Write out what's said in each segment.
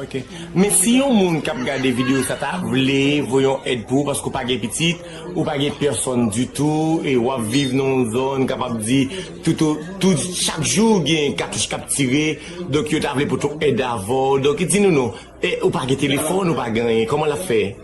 Ok men si yon moun kap gade video sa ta vle voye yon èd pou ou paske ou pa gen pitit ou pa gen pèsòn ditou e wap viv nan yon zòn m kapab di tout chak jou gen katouch kap tire donk yo ta vle pot yon èd avèw donk di nou non ou pa gen telefòn ou pa gen anyen kòman lap fè.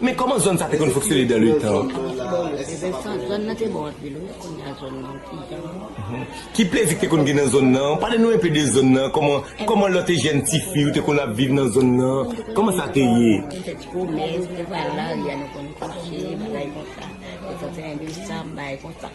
Men kòman zòn sa te konn fonksyone dan le tan? Vincent, Zòn nan te bon anpil wi, kounye a zòn nan pi jan an. Ki plezi ki te konn gen nan zòn nan? Pale nou enpe de zòn nan, kòman kòman lò te jèn ti fi ou te konn ap viv nan zòn nan? Kòman sa te ye? Nou te ti pwomennen, nou te pral lari a, nou konn kouche, bagay konsa. Detan se 1 desanm, bagay konsa.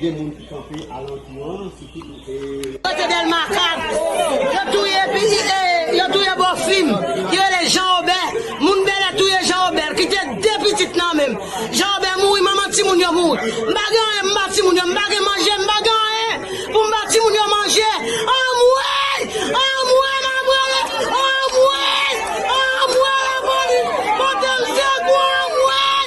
Gen moun ki kanpe alantou an, sitou pou e. Kote Dèlma 4, yo touye pi e yo touye bò fi m ki rele Jan Obè. Moun Bèlè touye Jan Obè, l kite 2 pitit nan men m. Jan Obè mouri, manman timoun yo mouri. M pa gen anyen pou m ba timoun yo, m pa gen manje, m pa gen anyen pou m ba timoun yo manje. Anmwey! Anmwey m ap rele, anmwey! Anmwey lapolis pote m sekou, anmwey!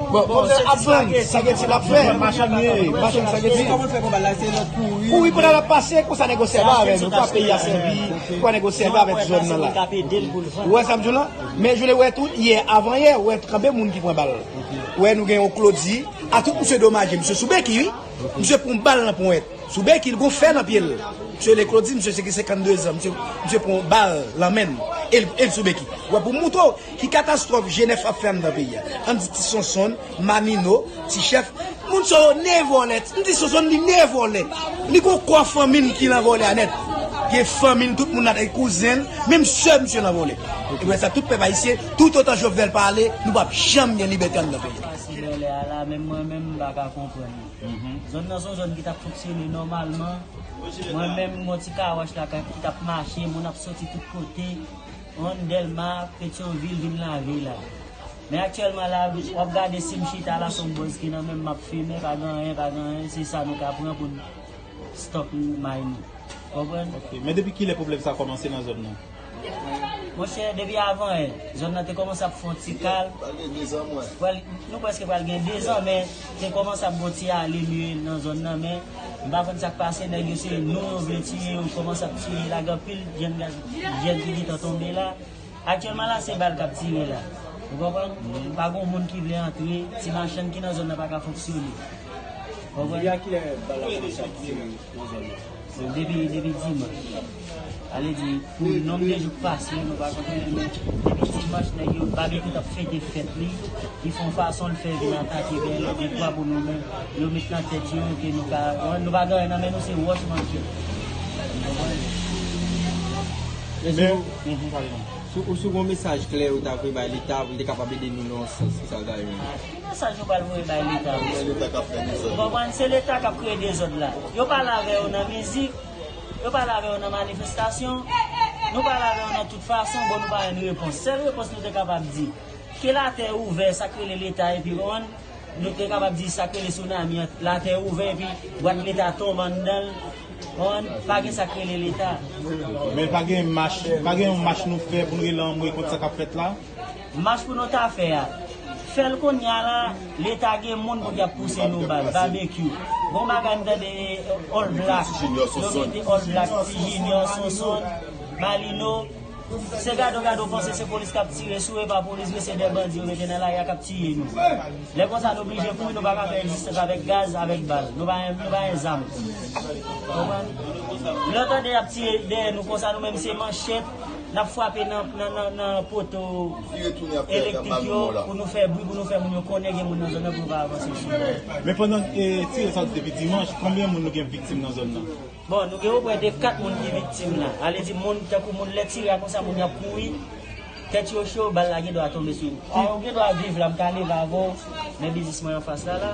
Bon konbyen ap vann sageti lap fè machann ye machann sageti kouri pandan lap pase konsa nèg yo sèvi avè nou konsa peyi a sèvi konsa nèg yo sèvi avèk zòn nan la ou wè sam diw la men joul ou wè tou yè avan yè ou wè kanpe moun ki pran bal ou wè nou gen yon klodi a tout misye domaje misye sou beki wi misye pran bal nan ponyèt sou beki li gon fè nan pyel misye rele klodi misye se gen 52 zan misye pran bal nan menl el sou beki wè poum moutre w. Ki katastwòf Jenèf ap fè anndan peyi a? An di ti Sonsonn, Mamino, ti chèf, moun sa yo ne vòlè. N ti Sonsonn li ne vòlè. Li gon kò fanmi l ki lan vòlè a nèt. Gen fanmi l, tout moun ladan li, kouzen l, menm sè misye lan vòlè. E pou tèt sa tout pèp ayisyen, toutotan Jovenel pa ale, nou pap janm gen libète anndan peyi a. Pase vòlè a la, menm mwen menm m pa ka konprann li. Zòn nan son zòn ki tap fonksyone nòmalman. Mwen menm m gon ti kawòch la ki tap mache, moun ap soti tout kote. Rond delma petion ville vin lavi la. Men aktyèlman la wap gade sim chita la son bòz ki nan menm map fimen pa gen anyen pa gen anyen se sa nou ka pran poun stop may nou konprann. Ok men depi kilè pwoblèm sa kòmanse nan zòn nan? Monchè depi avan yè zòn nan te kòmanse ap fon ti kalm nou prèske pral gen 2 zan men. Te komanse ap gon ti ale miye nan zòn nan men m pa konn sak pase nèg yo se nou yo vle tiye yo komanse ap tiye lage anpil jèn gaz jèn ki gentan tonbe la aktyèlman la se bal kap tire la ou konprann pa gon moun ki vle antre ti machann ki nan zòn nan paka fonksyone ou konprann. Donk depi depi dimanch sa vle di pou nonb de jou k pase yo nou pa konte yo men depi dimanch nèg yo Babekyou tap fete fèt li li fon fason l fè vin atake Bèlè dekwa pou nou menm yo met nan tèt yo ke nou ka konprann nou pa gen anyen nan men nou se wòch manke nou konprann Mèsi Ou si w gon mesaj klè ou ta vle bay leta pou l te kapab ede nou nan yon sans ki sa w ta renmen di. Kibò sa yo pral voye bay leta menm. Se leta kap fè dezòd. Ou konprann se leta kap kreye dezòd la. Yo pale avè yo nan mizik, yo pale avè yo nan manifestasyon, nou pale avè yo nan tout fason bon nou pa jwenn repons. Sèl repons nou te kapab di, ke latè ouvè sak rele leta epi ou konprann, nou te kapab di sak rele sounami an latè ouvè epi bwat leta tonbe anndanl ou konprann, pa gen sak rele leta. Men pa gen mach, pa gen yon mach nou fè pou nou rele anmwe kont sa kap fèt la? Mach pou nou ta fè a. Fèl kounya la leta gen moun pou ki ap pouse nou bal babekyou bon bagay m tande all black yo mete all black ti junior sonsonn malino se gade w gade w panse se polis kap tire sou epa polis vre se de bandi yo mete nan lari a kap tiye nou lè konsa nou blije kouri nou paka fè rezistans avèk gaz avèk bal nou pa gen zam lè w tande yap tiye dèyè nou konsa nou menm se manchet Nap fwape nan poto elektrik yo pou nou fè bri pou nou fè moun yo konnen gen moun nan zòn nan pou yo ka avanse sou yo. Men pandan tire sa depi dimanch, konbyen moun nou gen viktim nan zòn nan? Bon nou gen opre de 4 moun ki viktim la. A vle di moun tankou moun lè tire a konsa moun yo ap kouri, tèt yo cho, bal la gen dwa tonbe sou yo. Ou gen dwa viv la, m ka leve avan w, men biznis mwen anfas la la.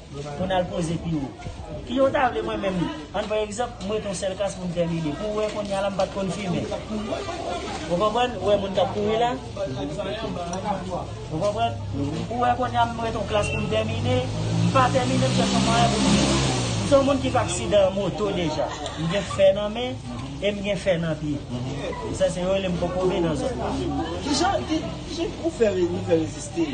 Mwen al poze pi wo. Ki jan w ta vle mwen menm? Ann pran egzanp, m rete yon sèl klas pou m tèmine. Pou w wè kounye a la m pa t konn fimen. Ou konprann? Ou wè moun k ap kouri la? Ou konprann? Ou wè kounye a m rete yon klas pou m tèmine? M pa tèmine, m chèche yon mwayen pou m fimen. M se yon moun ki fè aksidan moto deja. M gen fè nan men e m gen fè nan pye. Sa se yo rele m kokobe nan zòn nan. Ki jan ou fè reziste?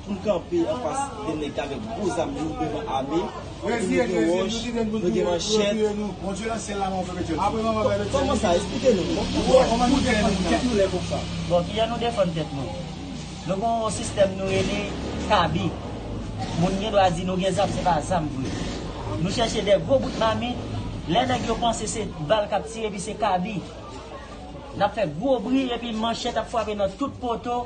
pou n kanpe anfas de nèg k avèk gwo zam yo devan ame nou gen wòch nou gen manchèt kòman sa esplike nou bon kijan nou defann tèt nou nou gen yon sistèm nou rele kabi moun gen dwa di nou gen zam se pa zam vre nou chèche de gwo bout mamit lè nèg yo panse se bal k ap tire epi se kabi n ap fè gwo bri epi manchèt ap frape nan tout poto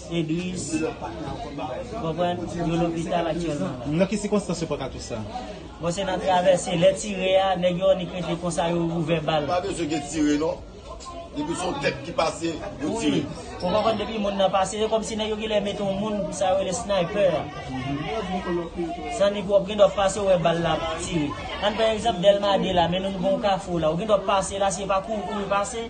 Edris, ou konprann, yo lopital aktyèlman la. Nan ki sikonstans yo paka tou sa? Bon se nan travèse, lè tire a, nèg yo annik rete konsa yo ouvè bal. Pa bezwen gen tire non, depi se yon tèt ki pase, yo tire. Wi, ou konprann depi moun nan pase, se kòm si nèg yo genlè mete yon moun, sa yo rele sniper a. San ni pwòp, gendwa w pase ou wè bal la ap tire. Ann pran egzanp Dèlma 2 la, men nou gen yon kafou la, ou gendwa w pase la, si e pa kouri kouri pase,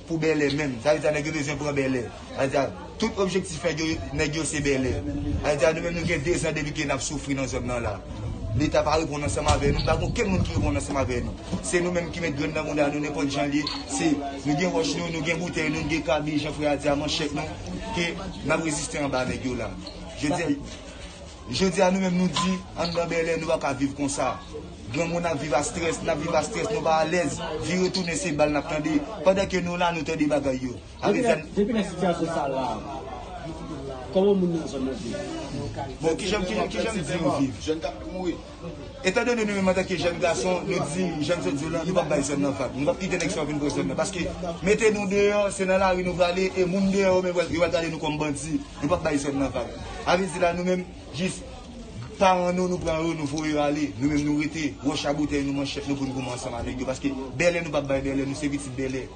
Pou bèlè menm sa vle di a nèg yo bezwen pran bèlè sa vle di a tout objektif nèg yo nèg yo se bèlè sa vle di a nou menm nou gen 2 zan depi ke nap soufri nan zòn nan la leta pa reponn ansanm avè nou nou pa gen okenn moun ki reponn ansanm avè nou se nou menm ki met grenn nan bouda nou nenpòt jan liye se nou gen wòch nou nou gen boutèy nou nou gen kabi jan frè a di a manchèt nou ke nap reziste anba nèg yo la jodi a. Jodi a nou menm nou di anndan Bèlè nou pa ka viv konsa. Granmoun ap viv a strès, n ap viv a strès, nou pa alèz. Vire tounen se bal n ap tande. Pandan ke nou la nou tande bagay yo. Depi lè sitiyasyon sa la, kòman moun nan zòn nan viv? Bon kijan m di yo viv? Etan done nou menm antanke jèn gason nou di jan n sot di w lan, nou p ap bay sè n nan vag. Nou p ap kite nèg sa yo vin pran sè n nan. Paske mete nou deyò, se nan lari nou prale e moun deyò yo menm yo pral gade nou kòm bandi. Nou p ap bay sè n nan vag. Avè di la nou menm jis paran nou, nou pran yo, nou voye yo ale. Nou menm nou rete wòch a boutèy nou, manchèt nou pou n goumen ansanm avèk yo. Paske bèlè nou p ap bay bèlè, nou se pitit bèlè.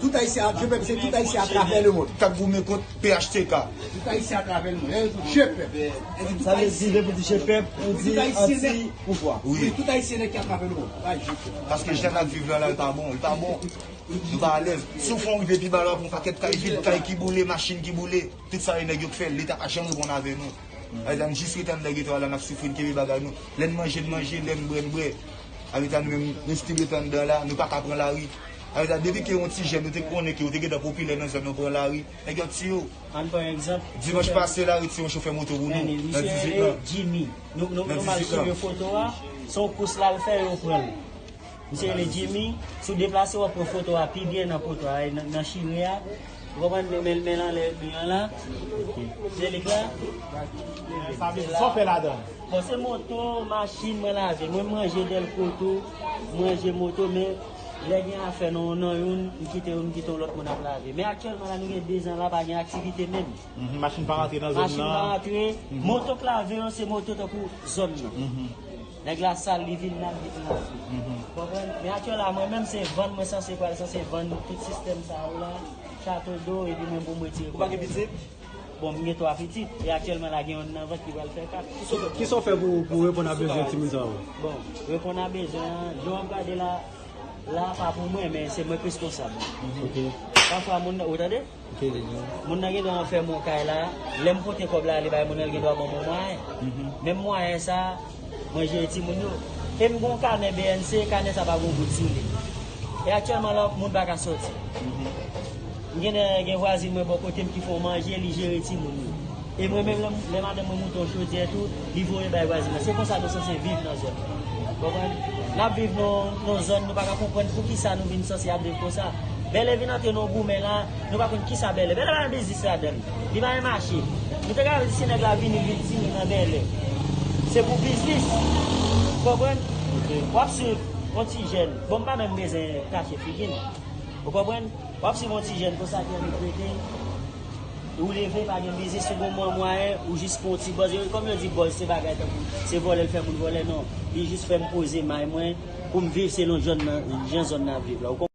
Tout Ayisyen ak Jepèp se tout Ayisyen atravè lemond. K ap goumen kont phtk. Tout Ayisyen atravè lemond. Lè yo di Jepèp. Sa vle di lè pou di Jepèp ou di anti pouvwa. Wi. Tout Ayisyen nèt ki atravè lemond. Pa Jepèp. Paske jan n ap viv la la li pa bon. Li pa bon. Nou pa alèz. Si w fon rive pi ba la w ap wè yon pakèt kay vid, kay ki boule, machin ki boule. Tout sa yo nèg yo k fè l. Leta pa janm reponn avè nou. Aleta n jis rete anndan geto a la n ap soufri n kenbe bagay nou. Lè n manje n manje, lè n bwè n bwè. Aleta nou menm nou stil rete anndan la. Nou pa ka pran lari. Sa vle di a depi ke yon ti jèn yo te konnen ke yo te gentan popilè nan zòn nan pran lari, nèg yo ap tiye yo. Ann pran yon egzanp. Dimanch pase la yo tiye yon chofè moto pou nou, nan 18 lan. Misye rele Jimmy. Nou mal souvni foto a, se yon kous l al fè yo pran l. Misye rele Jimmy, si w deplase w ap wè foto a pi byen nan poto a, nan chire a. Ou konprann? Men l men l anlè mi an la. Se li k la. Sa vle di sa w fè ladan l? Bon se moto, machin mwen lave. Mwen manje dèlko tou, manje moto men. Lè gen afè nan yon nan youn, m kite yo, m kite yon lòt moun ap lave. Men aktyèlman la nou gen 2 zan la pa gen aktivite menm. Machin pa rantre nan zòn nan. Machin pa rantre. Moto k lave yo se moto tankou zòn nan. Nèg la sal li vin lave li vin lave. Ou konprann? Men aktyèl la mwen menm se vann mwen sanse pral sanse vann tout sistèm sa yo la, chato do epi mwen pou m retire kòb mwen. Ou pa gen pitit? Bon, m gen 3 pitit, e aktyèlman la gen yonn nan vant ki pral fè 4. Ki sa w fè pou w reponn a bezwen timoun sa yo? Bon, reponn a bezwen an, jan w ap gade la, la a pa pou mwen, men se mwen k reskonsab. Pafwa moun nan, ou tande? Moun nan gendwa ranfèmen w kay la, lè m pote kòb la ale bay moun nan, l gendwa ban mwen mwayen. Menm mwayen sa a. Mwen jere ti moun yo. E m gen yon kanè bnc, kanè sa pa gen yon goud sou li. E aktyèlman la, moun pa ka soti. M gen de gen vwazin mwen bò kote m ki fè manje, li jere ti moun yo. E mwen menm lè madanm mwen moute yon chodyè tou, li voye bay vwazin nan. Se konsa nou sanse viv nan zòn nan. Ou konprann? N ap viv nan yon zòn nou pa ka konprann pou ki sa nou vin sanse ap viv konsa. Bèlè vin antre nan yon goumen la, nou pa konn ki sa bèlè. Bèlè pa gen biznis ladan l. Li pa renmen mache. Nou te ka di si nèg la vini vil ti moun nan bèlè. Se pou biznis. Ou konprann? Wap swiv yon ti jèn. Bon m pa menm bezwen kache figi m. Ou konprann? Wap swiv yon ti jèn konsa ki annik rete. Ou leve pa gen biznis ou gon mwa mwayen ou jis pran yon ti bòz. E kòm yo di bòz se bagay tankou se vòlè l fè moun vòlè non. Li jis fè m poze may mwen pou m viv selon jan zòn nan ap viv la.